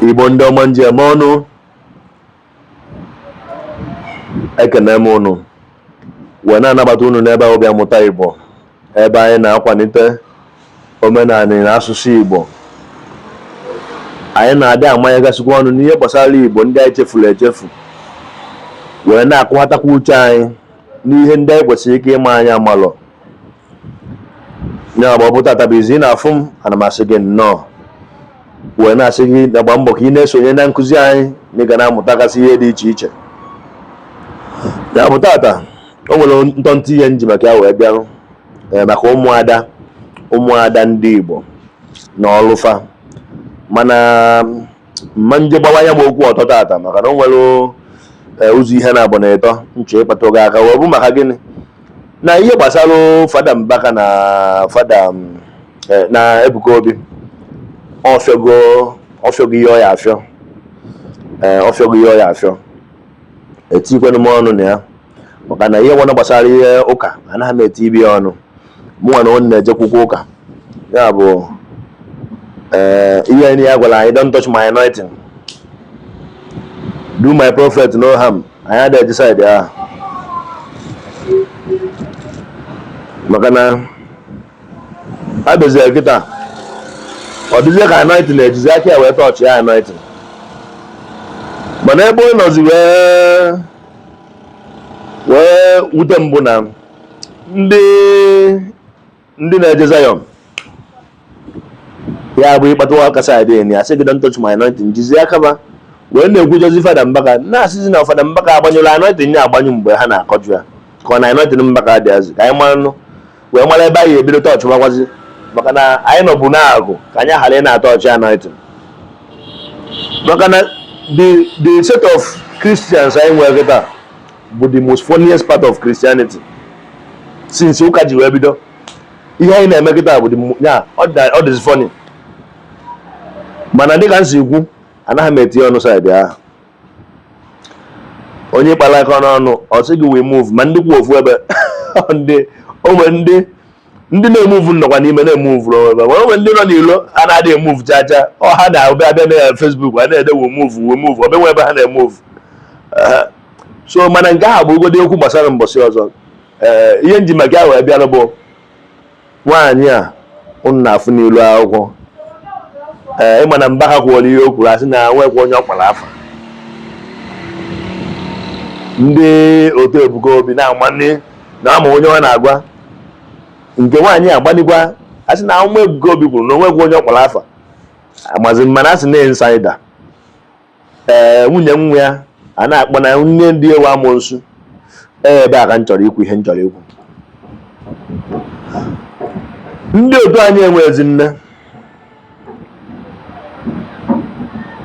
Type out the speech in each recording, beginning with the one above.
igbo ndị ọma m ji eme ọnụ ekene m unu wee na-anabata unu n'ebe a bụ bịa mụta igbo ebe anyị na-akwanite omenaanị na asụsụ igbo anyị na-adị amanyegasịkwa ọnụ n'ihe gbasara igbo ndị anyị chefuru echefu wee na-akụghatakwa uche anyị n'ihe ndị anyị kwesịrị ike ịma anyị amarọ ya bụ ọ bụ tata bụ izi ị na-afụ m ana m asị gị nnọọ wee na-asị gị gbaa mbọ ka ị na-esonye na nkụzi anyị na ị ga na-amụtagasị ihe dị iche iche ya bụ tata o nwere ntọntị ihe m ji maka ya wee bịarụ eh, maka ụmụada ụmụada ndị Igbo na ọlụ fa mana mma nje gbawa ya m okwu ọtọ tata maka na o nwere eh, ụzọ ihe naabọ na ịtọ m chọ ịkpatụga aka wee bụ maka gịnị na ihe gbasara fada Mbaka na fada mm, eh, na Ebuka Obi ọfịọgo ọfịọgo ihe ọ ya-afịọ eh, ọfịọgo ihe ọ ya-afịọ etikwenụ m ọnụ na ya maka na ihe ọbụna gbasara ihe ụka anaghị m etibe ya ọnụ mụnwa na onye na-ejekwukwa ụka ya bụ eh, ihe ndị a gwara anyị don't touch my anointing do my prophet no harm anyị adịghị eje side ahụ maka na a bịazie kịta ọ dịzie ka anointing na-ejizi aka ya wee touch ya anointing mana ebe ọ nọzi wee wute m bụ na ndị ndị na-eje Zion ya bụ ị kpatụwa aka side enyi a sị gị don't touch my anointing jizi aka fa wee na-ekwujọzi fada mbaka na-asịzi na fada mbaka agbanyụla anointing ya agbanyụ mgbe ha na-akọjụ ya ka ọ na anointing mbaka adịghịzi ka anyị mara nụ wee mara ebe anyị ebido touchwakwazi maka na anyị nọbu na-agụ ka anyị ghara ịna-atouch anointing maka na the set of Christians anyị nwere kịta bụ the most funniest part of Christianity since ụka ji wee bido ihe anyị na-eme kịta bụ ya ọ dịzi funny mana dịka m si ekwu anaghị m etinye ọnụ side ahụ onye kpara aka n'ọnụ ọ sị gị we move ma ndị kwụ ofu ebe ndị o nwe ndị ndị na-emove nọkwa n'ime na-emove onwe ebe nwere o nwe ndị nọ n'ilo a na-adị emove chacha ọ ha na-abịa abịa na Facebook a na-ede we move we move ọ benwe ebe ha na-emove so mana nke ahụ bụgodi okwu gbasara mbọsị ọzọ ee ihe m ji maka ya bịara bụ nwaanyị a unu na-afụ n'ilu akwụkwọ ee ịma na Mbaka kwuola ihe o kwuru a sị na nwekwa onye ọ kpara afa ndị otu ebuka obi na-amanne na ama onye ọ na-agwa nke nwaanyị a gbanigwa a sị na ahụma Ebuka Obi kwuru na o nweghị onye ọ kpọrọ afa amazi mana a sị na insider ee eh, nwunye nwa ya a na-akpọ na nne di ya wụ amụnsu ee eh, ebe a ka m chọrọ ikwu ihe m chọrọ ikwu ndị otu anyị enwezi nne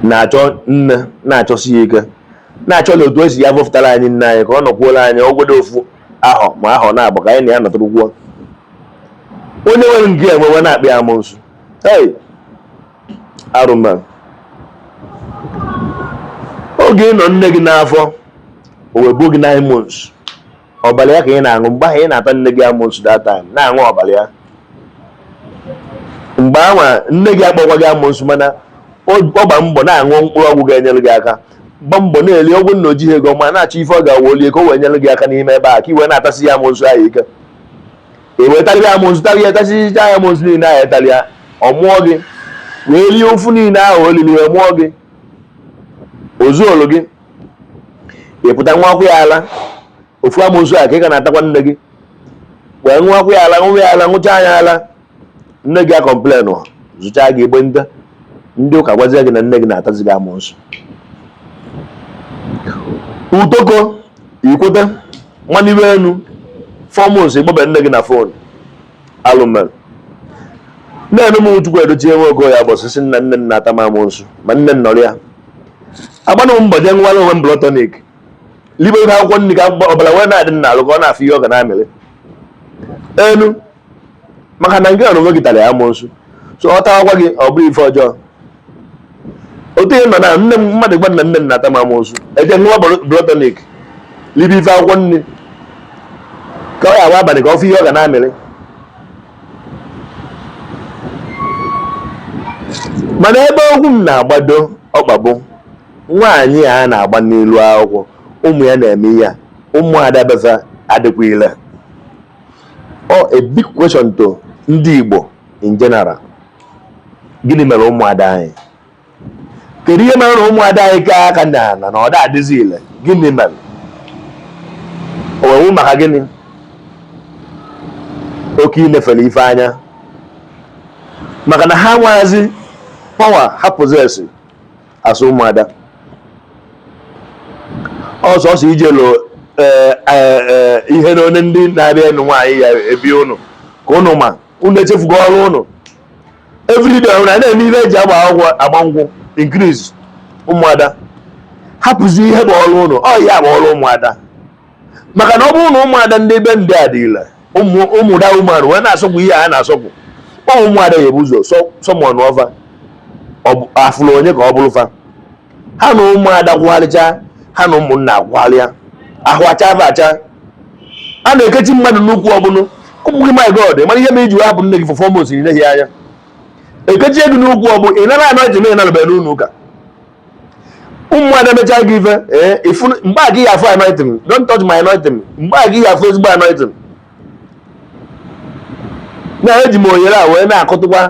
na-achọ nne na-achọsi ya ike na-achọ na otu e si ya vọpụtara anyị nne anyị ka ọ nọkwuola anyị ọ bụgodu ofu ahọ ma ahọ naabọ ka anyị na ya nọtụrụkwuo onye nwere nke ya e wee na-akpọ ya amụsụ hey arụma oge ị nọ nne gị n'afọ o wee buo gị nine months ọbara ya ka ị na-aṅụ mgbe ahụ ị na-ata nne gị amụsụ that time na-aṅụ ọbara ya mgbe ahụ nne gị akpọkwaghị gị amụsụ mana ọ gba mbọ na-aṅụ mkpụrụ ọgwụ ga-enyere gị aka gba mbọ na-eli ọgwụ na o jighị ego ma na-achọ ife ọ ga-awa o lie ka o wee nyere gị aka n'ime ebe a ka i wee na-atasi ya amụnsu ahụ ike i wee tarị ya amụnsu tarị ya tasịcha ya amụnsu niile ahụ ị tarị ya ọ mụọ gị wee lie ụfụ niile ahụ o lili wee mụọ gị o zuolu gị ị pụta ṅụwakwu ya ala ofu amoosu a ka ị ka na-atakwa nne gị wee ṅụọkwa ya ala ṅụwa ya ala ṅụchaa ya ala nne gị akọmplenụ zụchaa gị egbe nta ndị ụka gwazie gị na nne gị na-atazi gị amoosu utoko ikweta mmanụ iwe enu four months ị kpọbe nne gị na fon alụ melu nne m chukwu edochie nwe ogo ya bụ osisi na nne m na-ata m amoosu ma nne m nọrọ ya agbanụ m mbọ jee ṅụwara onwe m blood tonic libe ihe akwụkwọ nri ka ọbara wee na-adị m n'alụ ka ọ na-afụ ihe ọ ga na-amịrị enu maka na nke onwe gị tara ya amụsụ so ọ tawakwa gị ọ bụrụ ife ọjọọ otu ihe nọ na nne m mmadụ gwa na nne m na-ata m amụsụ eje ṅụwa blood tonic libe ife akwụkwọ nri ka ọ ya agwa abalị ka ọ fụ ihe ọ ga na-amịrị mana ebe okwu m na-agbado ọkpa bụ nwaanyị a na-agba n'elu akwụkwọ ụmụ ya na-eme ihe a ụmụada befa adịkwa ile ọ a big question to ndị Igbo in general gịnị mere ụmụada anyị kedu ihe mere na ụmụada anyị ka aka na na na ọ da adịzi ile gịnị mere owewu maka gịnị oke ilefere ife anya maka na ha amazi power ha possess as ụmụada ọ sọsọ ijelo eh, eh, eh, ihe na onye ndị na-abịa ịnụ nwaanyị ya ebi ụnụ ka ụnụ ma ụnụ echefugo ọrụ ụnụ everyday a na-eme ihe e ji agba akwụkwọ agba nkwụ increase ụmụada hapụzi ihe bụ ọrụ ụnụ ọ ya bụ ọrụ ụmụada maka na ọ bụrụ na ụmụada ndị be ndị a dị ile ụmụda ụmụada wee na-asọkwu ihe a na-asọkwu ụmụada ya ebu ụzọ summon fa afụrụ onye ka ọ bụrụ fa ha na ụmụada kwụgharịcha ha na ụmụnna akwụgharịa ahụ acha afa acha a na-ekechi mmadụ n'ukwu ọbụla ụmụ gị my god mara ihe mere iji wee hapụ nne gị for four months n'ileghị anya ekechie gị n'ukwu ọbụ ị nara anointing na ị nalụbeghị n'ụlọ ụka ụmụ ada mechaa gị ife eh, mgbe a gị ya afụ anointing don't touch my anointing mgbe a gị ya afụ ezigbo anointing na eji m ohere a wee na-akụtụkwa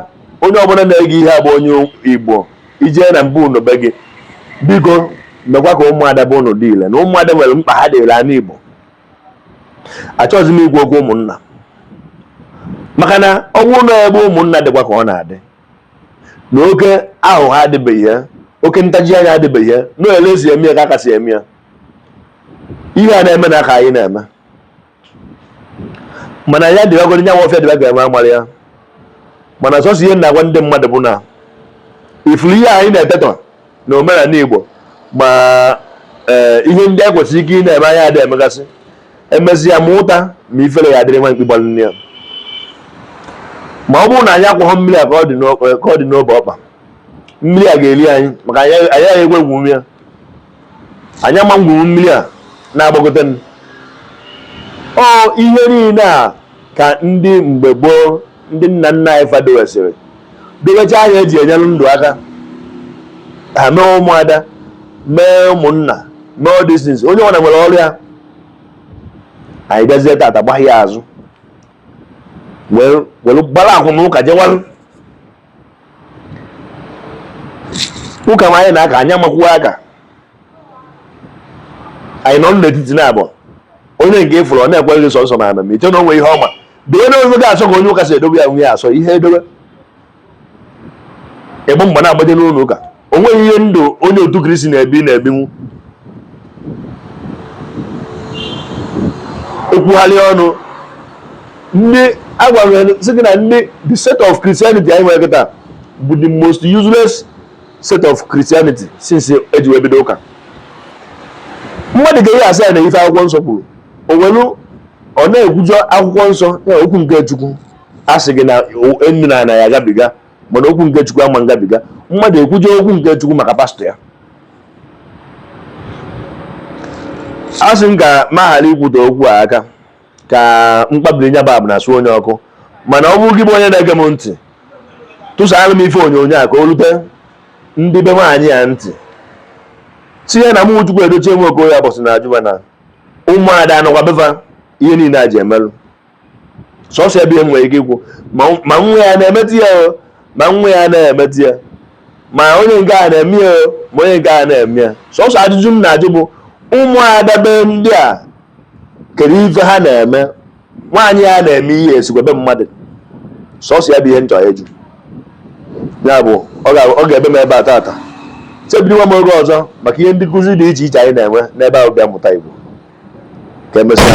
onye ọbụla na-ege ihe a bụ onye igbo ijee na be unu be gị biko mekwa ka ụmụada be unu dị ile na ụmụada nwere mkpa ha dịrị ana igbo achọghịzi m ikwu okwu ụmụnna maka na ọ bụrụ na ebe ụmụnna dịkwa ka ọ na-adị na oke ahụhụ adịbeghị ya oke ntaji anya adịbeghị ya na ele e si eme ya ka a ka si eme ya ihe a na-eme na aka anyị na-eme mana ya dịbagoro nyanwụ ọfịa dịba ga-eme amara ya mana sọsọ ihe na-agwa ndị mmadụ bụ na ị fụrụ ihe anyị na-etetọ na omenala Igbo ma eh, ihe ndị a e kwesịrị ike ị na-eme anyị adị emegasị emezi ya ma ụta ma ifere ya adịrị nwa mkpi gbalụ nne ya ma ọ bụrụ na anyị akwọghọ mmiri a ka ọ dị n'obe ọkpa mmiri a ga-eli anyị maka anyị agaghị egwu egwu ya anyị ama ngwuru mmiri a na-agbagote ọ ihe niile a ka ndị mgbe gboo ndị nna nna anyị fa dowesịrị dowecha anyị eji enyere ndụ aka ha mee ụmụada mee ụmụnna mee all these things onye ọbụla nwere ọrụ ya anyị bịazie tata gbagha ya azụ were gbarakwu n'ụka jewarụ ụka ma anyị na aka anyị amakwuo aka anyị nọ n'etiti na abụọ onye nke ịfụrụ ọ na-ekweghị sọsọ na ana m iche na o nwe ihe ọma dị onye ofe ga-asọ ka onye ụka si edobe ya nwunye asọ ihe edobe ịgba mgbe na-agbaje n'ụlọ ụka o nweghị ihe ndụ onye otu kristi na-ebi na-ebinwu ekwugharị ọnụ ndị agwara sị gị na ndị the set of Christianity anyị nwere kịta bụ the most useless set of Christianity since eji wee bido ụka mmadụ ka a ya asị ya nee ife akwụkwọ nsọ kwuru o welu ọ na-ekwujọ akwụkwọ nsọ ya okwu nke chukwu a sị gị na enu na ana ya agabiga mana okwu nke chukwu ama ngabiga mmadụ ekwujọ okwu nke chukwu maka pastọ ya a sị m ka m ghara ikwute okwu a aka ka mkpabiri nya bab na-asụ onye ọkụ mana ọ bụrụ gị bụ onye na-ege m ntị tụsara m ife onyonyo a ka o rute ndị be nwaanyị a ntị tinye na mụ Chukwuedochie nwa Okoye abọsị na ajụba na ụmụada anọkwa be fa ihe niile a ji emelụ sọsọ ebe nwere ike ikwu ma nwa ya na-emetụ ya o ma nwa ya na-emetụ ya ma onye nke a na-eme ya o ma onye nke a na-eme ya sọsọ ajụjụ m na-ajụ bụ ụmụada be ndị a kedu ife ha na-eme nwaanyị a na-eme ihe esikwa be mmadụ sọsọ ya bụ ihe m chọ ịjụ ya bụ ọ ga- ọ ga-ebe m ebe a tata chebiriwa m oge ọzọ maka ihe ndị nkuzi dị iche iche anyị na-enwe n'ebe a bụ Bịa Mụta Igbo ka emesịa